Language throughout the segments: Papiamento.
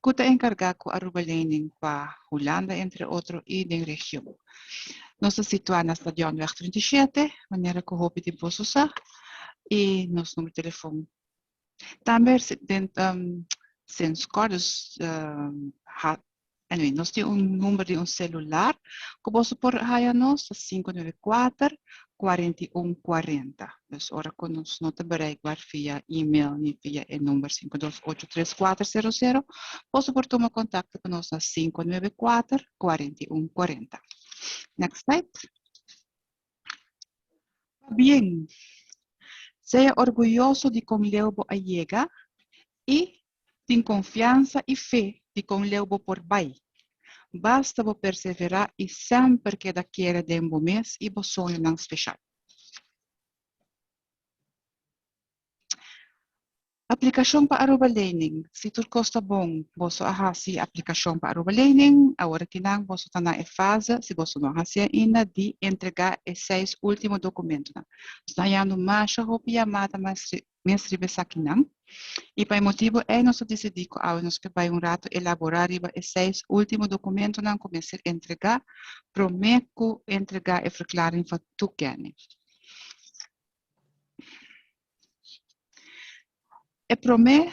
cu ta encarga cu Aruba Lening pa Hulanda entre otro y den region. Nos ta situa na Stadionweg treinta i shete, manera cu hopi di boso sa, y nos number telefon. Tambe den Senscordes Anyway, nos tin un number di un celular cu boso por haya nos, ta sinku nuebe kuater, kuarenta i un, kuarenta. Dus ora cu nos no ta bereikbaar via e-mail ni via e number sinku dos ocho tres kuater sero sero, boso por tuma contacto cu nos na sinku nuebe kuater, kuarenta i un, kuarenta. Next slide. Pabien, sea orguyoso di con leu bo a yega y Tin konfiansa i fe di kon leu bo por bai. Basta bo perseverá i semper keda kere den bo mes i bo soñonan speshal. Aplikashon pa Aruba Lening Si tur kos ta bon, boso a hasi aplikashon pa Aruba Lening. Awor akinan boso ta na e fase, si boso no a hasi ainda, di entregá e seis último dokumentonan. Nos ta hañando masha hopi yamada, mas mes riba esakinan, i pa e motibu ei nos a disidí ku awe nos ke bai un ratu elaborá riba e seis último dokumentunan ku mester entregá promé ku entregá e verklaring van toekenning. E promé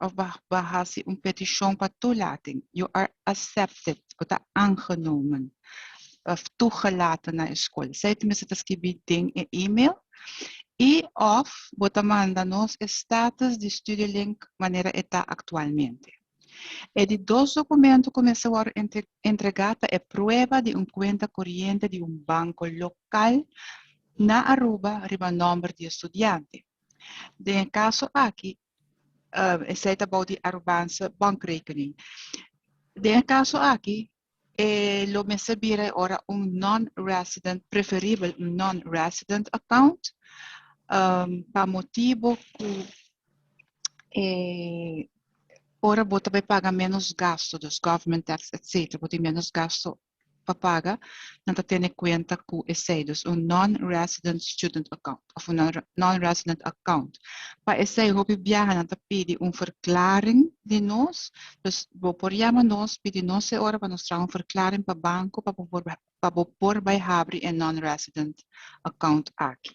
of ba hasi un petishon pa toelating, you are accepted, bo ta aangenomen of toegelaten na e skol. Esei tenminste ta skibi den e email. I of bo ta manda nos e status di Studielink manera e ta aktualmente. E di dos dokumento ku mester wòrdu entregá ta e prueba di un kuenta koriente di un banko lokal na Aruba riba nòmber di e studiante. Den e kaso aki esei ta bou di Arubanse bankrekening. Den e kaso aki, e lo mester bira e ora un non-resident, preferibel un non-resident account, um, pa motibu ku e ora bo ta bai paga ménos gastu, dus government tax, etcétera, bo tin ménos gastu pa paga, nan ta tene kuenta ku esei, dus un non-resident student account òf un non-resident account. Pa esei hopi biaha nan ta pidi un verklaring di nos, dus bo por yama nos, pidi nos e ora pa nos traha un verklaring pa banko pa bo por bai habri e non-resident account aki.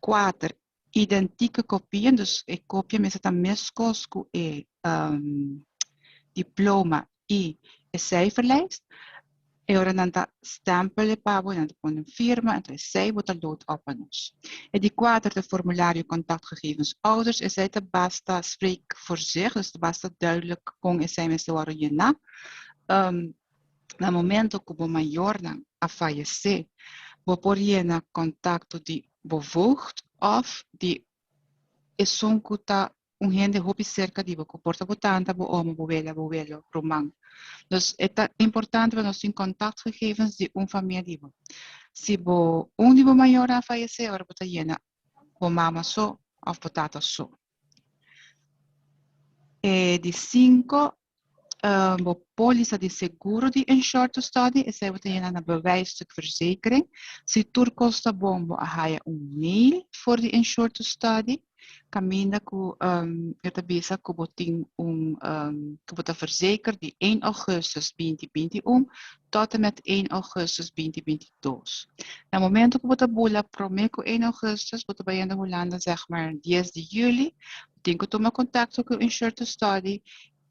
Kuater, Identike kopien, dus e kopia mester ta meskos ku e diploma i e seiferlijst. E ora nan ta stèmpel e pa bo i nan ta pone nan firma, entresei bo ta load òf pa nos. E di kuater ta e formulario Kontaktgegevens Ouders. Esei ta basta spreekvoorzichtig, dus ta basta duidelijk kon esei mester wòrdu yená. Na momento cu bo mayornan a fayecé, bo por yena contacto di bo voogd of di esun cu ta un hende hopi cerca di bo, cu por ta bo tanta, bo oma, bo wele, bo welo, ruman. Dus e ta importante pa nos tin contactgegevens di un famia di bo. Si bo un di bo mayornan a fayecé, ora bo ta yena bo mama so of bo tata so. E di cinco eh, bo póliza di seguro di insured to study, esei bo ta yena na bewijsstuk verzekering. Si tur kos ta bon, bo a haya un mail for di insured to study, kaminda ku em e ta bisa ku bo tin un em ku bo ta verzeker di één augustus binti binti un tòtemet ein ougùstus binti binti i dos. Na momentu ku bo ta bula promé ku ein ougùstus bo ta bayendo Hulanda sègmar dies di juli, bo tin ku tuma kontakto ku Insure to Study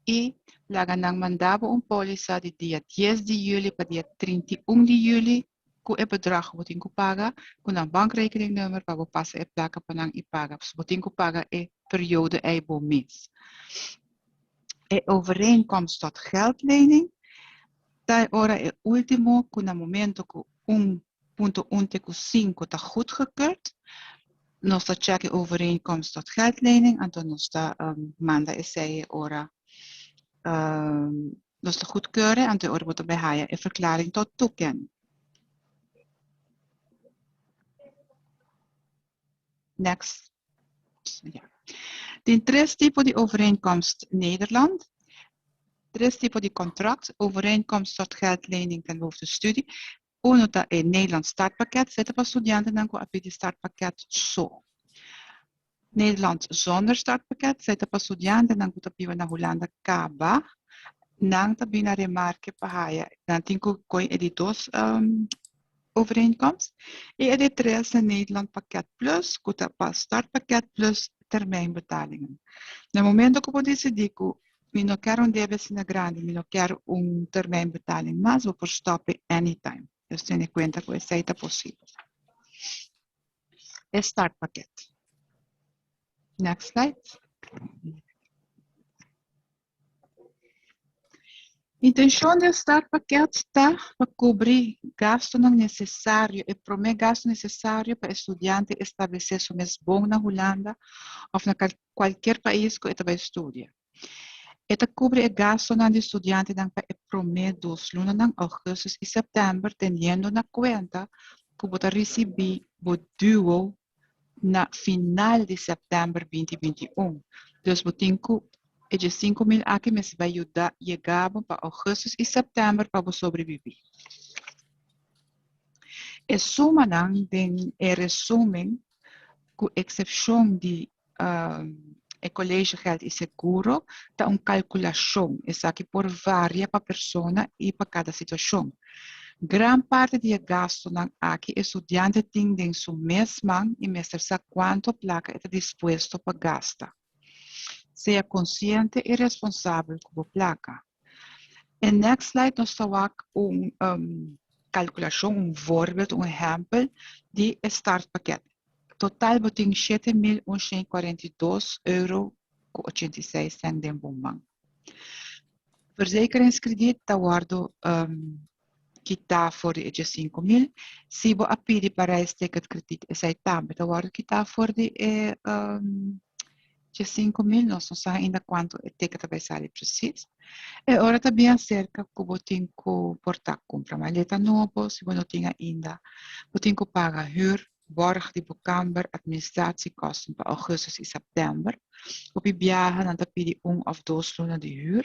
i laga nan manda bo un pólisa di dia dies di juli pa dia trinta i un di juli ku e bedrag ku bo tin ku paga ku nan bankrekeningnummer pa bo pasa e plaka pa nan i paga pasobra bo tin ku paga e periodo ei bo mes. E overeenkomst tot geldlening. Ta e ora e ultimo cu na momento cu un punto un te cu cinco ta goedgekeurd, nos ta check e overeenkomst tot geldlening, anto nos ta manda esey e ora nos ta goedkeure, anto e ora bo ta bay haya e verklaring tot toeken. Next. Ja. Tin tres tipo di overeenkomst Nederland. Tres tipo di kontrakt, overeenkomst tot geldlening den hoofdestudie. Uno ta e Nederland startpakket, se ta pa studiantenan ku a pidi startpakket so. Nederland zonder startpakket, se ta pa studiantenan ku ta biba na Hulanda kaba. Nan ta bini a remarke pa haya, nan tin ku koin e di dos overeenkomst i e di tres na Nederland Pakket Plus ku ta pa Start Pakket Plus termijn betalingen. Na momento ku bo disidi ku Mi no kèr un debe asina grandi, mi no kèr un termijn betaling mas, bo por stòp'e anytime. Nos tene kuenta ku esei ta posibel. E Start Pakket. Next slide. Intencion di e startpakket ta pa cubri gastonan necesario, e prome gasto necesario pa e studiante establece su mes bon na Hulanda of na cualkier pais cu e ta bay studia. E ta cubri e gastonan di studiantenan pa e prome dos lunanan augustus y september teniendo na cuenta cu bo ta ricibi bo duo na final di sèptèmber binti binti un. Dus bo tin ku e dje sinku mil aki mester bai yuda yega bo pa ougùstus i sèptèmber pa bo sobreviví. E sumanan den e resùmen, ku eksepshon di e colegegeld y seguro ta un calculacion, esaki por varia pa persona y pa cada situacion. Gran parti di e gastonan aki e studiante tin den su mes man y mester sa cuanto placa e ta dispuesto pa gasta. Sea consciente y responsabel cu bo placa. En next slide nos ta wak un um, calculacion, un voorbeeld, un ehempel di e startpakket. Total bo tin siete mil honderd kwarenta-i-dos euro ku ochenta i seis sent den bo man. Verzekeringskrediet ta wordo um, kita for di e dje sinku mil. Si bo a pidi pa reis ticket krediet esei tambe ta wòrdu kita for di e dje sinku mil. Nos no sa ainda kuantu e ticket ta bai sali presis. E ora ta bien aserka ku bo tin ku por ta kumpra maleta nobo, si bo no tin ainda. Bo tin ku paga hür, bòrg di bo kamber, administratie kòsten pa ougustus i sèptèmber. Hopi biaha nan ta pidi un òf dos luna di hür.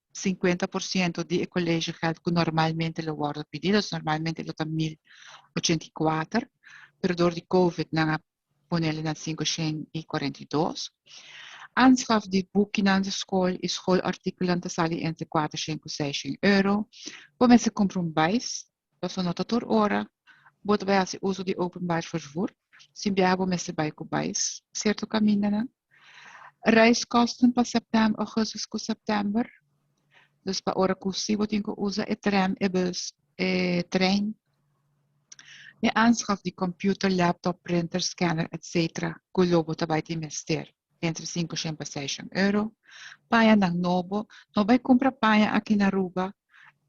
50 por ciento di e colegiogeld cu normalmente lo wordo pidi, dus normalmente lo ta mil ochenta i kuater, pero door di covid nan a ponele na sinku shen i kuarenta i dos. Aanschaf di boekinan di school i school articulan ta sali entre kuater shen cu seis shen euro. Bo mester cumpra un buis Paso no ta tur ora bo ta bai hasi uso di openbaar vervoer. Si biaha bo mester bai ku bais sierto kamindanan. Reiskosten pa septèmber, ougustus ku septèmber. Dus pa ora ku si bo tin ku usa e tren, e bus, e trein. E aanschaf di computer, laptop, printer, scanner, etc. Ku lo bo ta bai tin mester. entre sinku shen pa sei shen euro. Pañanan nobo, no bai kumpra paña aki na Aruba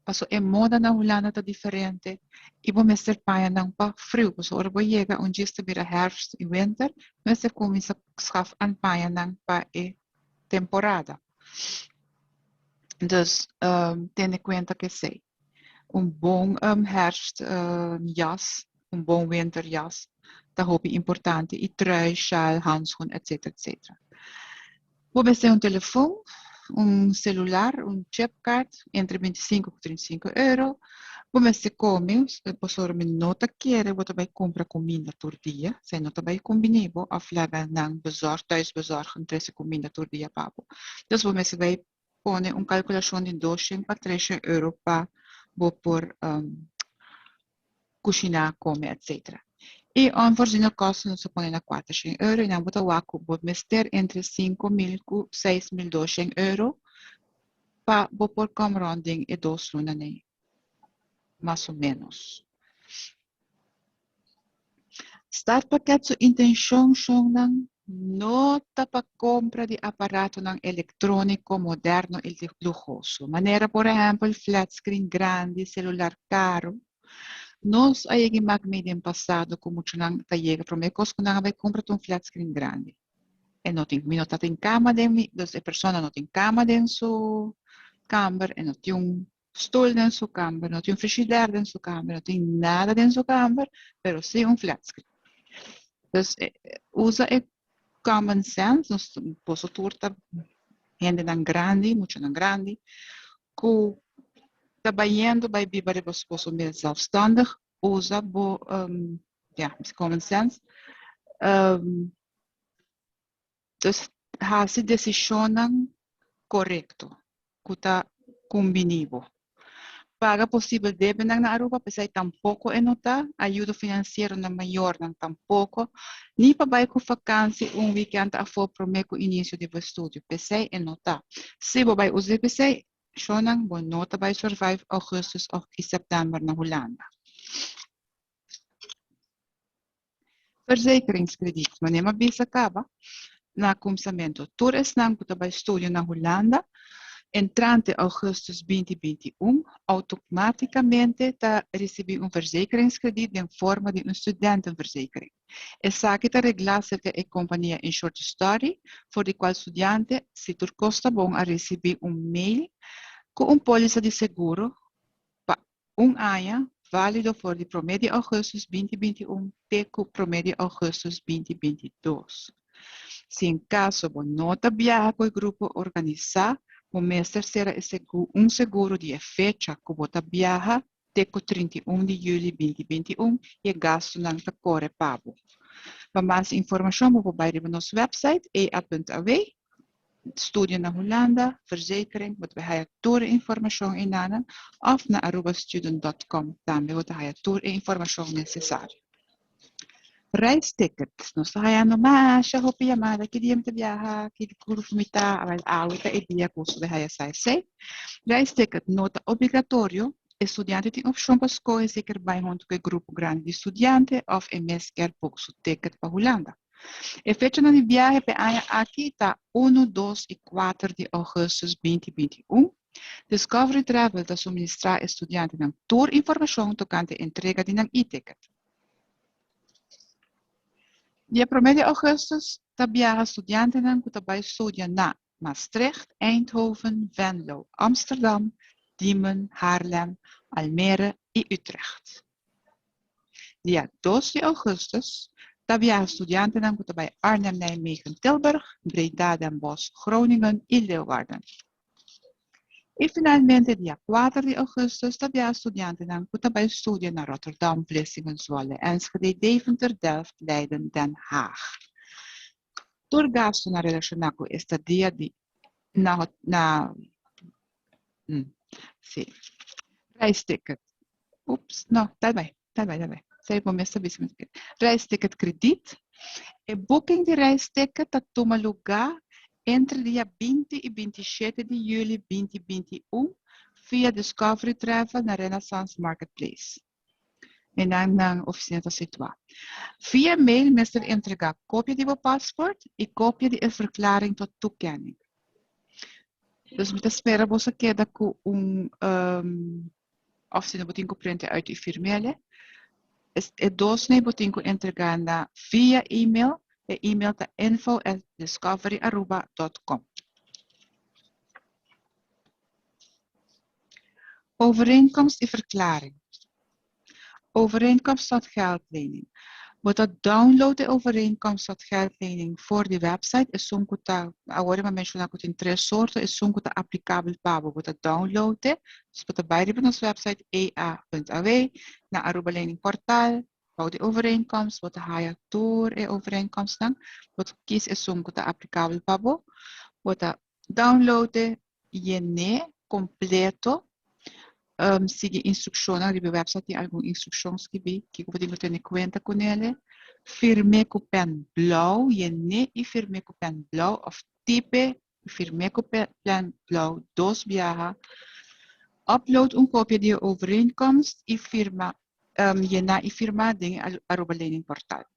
paso e moda na Hulanda ta diferente i bo mester pañanan pa friu paso ora bo yega un djis ta bira hèrfst i wenter bo mester kuminsa skaf an pañanan pa e temporada. Dus tene kuenta ku esei. Un bon herfstjas, un bon winterjas ta hopi importante y trui, sjaal, handschoen etc. Etc. Bo mester tin un telefon, un celular, un chip card entre binti sinku cu trinta i sinku euro. Bo mester come, pasobra mi no ta kere bo ta bay cumpra cuminda tur dia, esai no ta bay cumbini bo of laga nan bezorg, thuisbezorg, trece cuminda tur dia pa bo. Entonces bo mester bay pone un kalkulashon di doshen pa treshen euro pa bo por kushiná, kome etsetera. I un forzino kòst nos a pone na kuatershen euro i nan bo ta wak ku bo mester entre sinku mil ku seis mil doshen euro pa bo por kòm rònt den e dos lunanan. mas o ménos. Startpakket su intenshon shonnan no ta pa kompra di aparatonan elektróniko modèrno i luhoso, manera por ehèmpel flatscreen grandi, selular karu. Nos a yega imak mei den pasado ku muchunan ta yega promé kos ku nan a bai kompra ta un flatscreen grandi. E no tin, mi no ta tin kama den mi, dus e persona no tin kama den su kamber, e no tin un stol den su kamber no tin un frishider den su kamber no tin nada den su kamber pero si un flat screen dus usa e common sense nos boso tur ta hendenan grandi muchanan grandi ku ta bayendo bai biba riba su boso mes zelfstandig usa bo ya common sense Entonces hasi decisionnan corecto cu ta cumbini bo. Paga posibel debenan na Aruba pesai tampoco e no ta ayudo financiero na mayornan tampoco ni pa bay cu vakansi un weekend afo prome cu inicio di bo estudio pesai e no ta. Si bo bay usa e pesai cionnan bo no ta bay survive Augustus of y September na Hulanda. Verzekeringskredit. Wanneer mi a bisa kaba na kumsamentu, tur esnan ku ta bai studio na Hulanda entrante ougustus binti binti un, outomatikamente ta risibi un verzekeringskredit den forma di un studentenverzekering. Esaki ta reglá serka e kompania Insure to Study, for di kual studiante, si tur kos ta bon, a risibi un mail ku un pólisa di seguro pa Un aña, válido for di promé di ougùstus binti binti un te ku promé di ougùstus binti binti dos. Si en kaso bo no ta biaha ku e grupo organisá, bo mester sera e segu un seguro di e fecha ku bo ta biaha te ku trinta i un di yüli binti binti un i e gastunan ta kore pa bo. Pa mas informashon bo por bai riba nos wèpsait ea punt awe. Studio na Hulanda, Verzekering, bo ta bay haya tur e informacion einanan, of na Arubastudent dot com tambe bo ta haya tur e informacion necesario. Reisticket, Nos ta hayando masha hopi yamada, ki dia mi ta biaha, ki grupo mi ta, awel awe ta e dia cu su bay haya sa esey. Reisticket no ta obligatorio, e studiante tin opcion pa scoge si e kier bay hunto cu e grupo grandi di studiante of e mes kier book su ticket pa Hulanda. E fechanan di biahe p'e aña aki ta unu, dos i kuater di ougùstus binti binti i un. Discovery Travel ta suministrá e studiantenan tur informashon tokante entrega di nan e-ticket. Dia promé di ougùstus ta biaha studiantenan ku ta bai studia na. Maastricht, Eindhoven, Venlo, Amsterdam, Diemen, Haarlem, Almere i Utrecht. Dia dos di ougustus ta biaha studiantenan ku ta bai Arnhem, Nijmegen, Tilburg, Breda, Den Bosch, Groningen i Leeuwarden. I finalmente dia kuater di ougustus ta biaha studiantenan ku ta bai studia na Rotterdam, Vlissingen, Zwolle, Enschede, Deventer, Delft, Leiden, Den Haag. Tur gastunan relashoná ku estadia di na na si reis ticket ups no ta bai ta bai ta bai sei bo mes ta bisa mi ta kere reis ticket kredit e booking di reis ticket ta tuma lugá entre dia binti i binti shete di yüli binti binti i un via discovery travel na renaissance marketplace. Minan nan oficina ta situa. Via mail mester entrega copia di bo passport y copia di e verklaring tot toekenning. Dus mi ta spera boso a keda cu un ofsina bo tin cu prente uit y firmele. Es e dos nei bo tin cu entrega na via email. E email ta info at discoveryaruba dot com. Overeenkomst di verklaring Overeenkomst tot geldlening Bo ta download e Overeenkomst tot geldlening for di website esun ku ta Awor e m'a menshoná ku tin tres sorto esun ku ta aplikabel pa bo bo ta download e dus bo ta bai riba nos website ea.aw na Aruba Lening Portal bou di Overeenkomst bo ta haya tur e Overeenkomstnan bo ta kis esun ku ta aplikabel pa bo bo ta download e Yen'é kompleto. Sigui instrukshonnan. Riba e wèpsait tin algun instrukshon skibí kiko bo tin ku tene kuenta ku nele. Firm'é ku pèn blou. Yen'é i firm'é ku pèn blou òf tip'é i firm'é ku pèn blou dos biaha. Upload un kopia di e overeenkomst i firma. Yená i firmá den e aroba lening portal.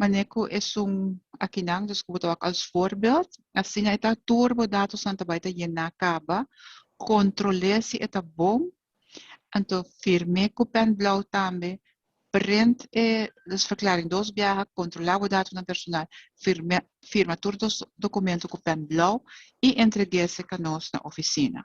Manera ku esun akinan, dus ku bo ta wak als voorbeeld, asina e ta tur bo datosnan ta bai ta yená kaba, kontrol'é si e ta bon, anto firm'é ku pèn blou tambe, print e Losverklaring dos biaha, kontrolá bo datosnan personal, firm'é firma tur dos dokumentu ku pèn blou i entreg'é se ka nos na ofisina.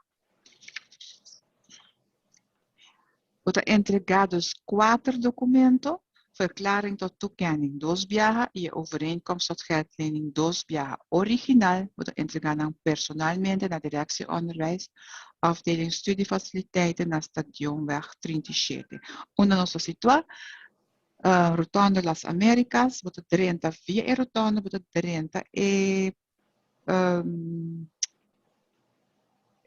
Bo ta entregá dus kuater dokumento, Verklaring tot Toekenning dos biaha i e Overeenkomst tot Geldlening dos biaha, original, bo ta entregá nan personalmente na Direksie Onderwijs, Afdeling Studiefaciliteiten, na Stadionweg trinta i shete, unda nos ta situá, Rotonde Las Américas, bo ta drenta via e rotonde, bo ta drenta e Um,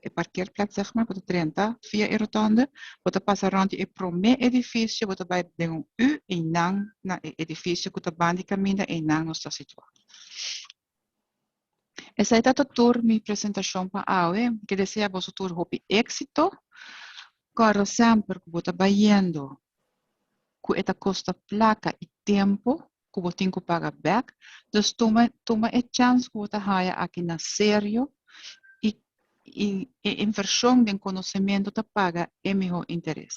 e parkeerplek zeg maar, bo ta drenta via e rotonde, bo ta pasa rond di e promé edificio, bo ta bai den un U einan na e edificio ku ta bandi kaminda einan nos ta situá. Esei ta ta tur mi presentashon pa awe. Mi ke desea boso tur hopi éksito. Kòrda semper ku bo ta bai yendo ku e ta kosta plaka i tempu ku bo tin ku paga bèk, dus tuma tuma e chans ku bo ta haya aki na serio i i e invershon den konosementu ta paga e mihó interes.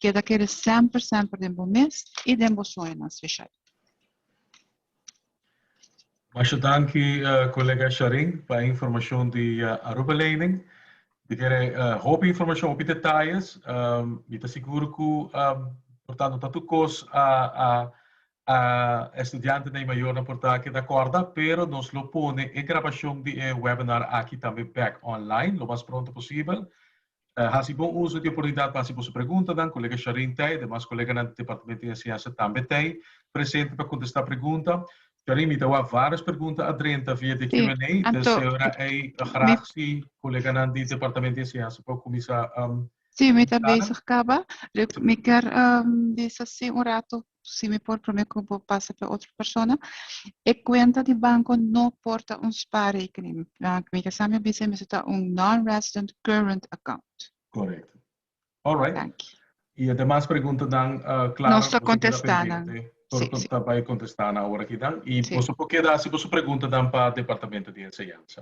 Keda kere semper semper den bo mes i den bo sueñonan speshal. Masha danki kolega Sharin pa e informashon di Aruba Lening. Mi kere hopi informashon, hopi detayes. Mi ta sigur ku por ta nota tur kos a e studiantenan i mayornan por ta keda kòrda, pero nos lo pone e grabashon di e webinar aki tambe bèk online lo mas pronto posibel. Hasi bon uso di e oportunidat pa hasi boso preguntanan. Kolega Shareen ta ei, demas koleganan di Departamento di Enseñansa tambe ta ei presente pa kontestá pregunta. Charin mi ta wak vários pergunta a drenta via de Q&A, ta seora ei graag si coleganan di Departamento di Enseñansa por cuminsa. Sí, mi ta bezig caba. Mi kier bisa si un rato, si mi por prome cu bo pasa pa e otro persona. E cuenta di banco no por ta un spaarrekening. Mi kier sa mi bisa mester ta un non-resident current account. Correcto. Alright. Danki. Y e demas preguntanan, claro, boso ta keda pendiente tur cu ta bay contesta nan awor aki dan. Y boso por keda haci boso preguntanan pa Departamento di Enseñansa.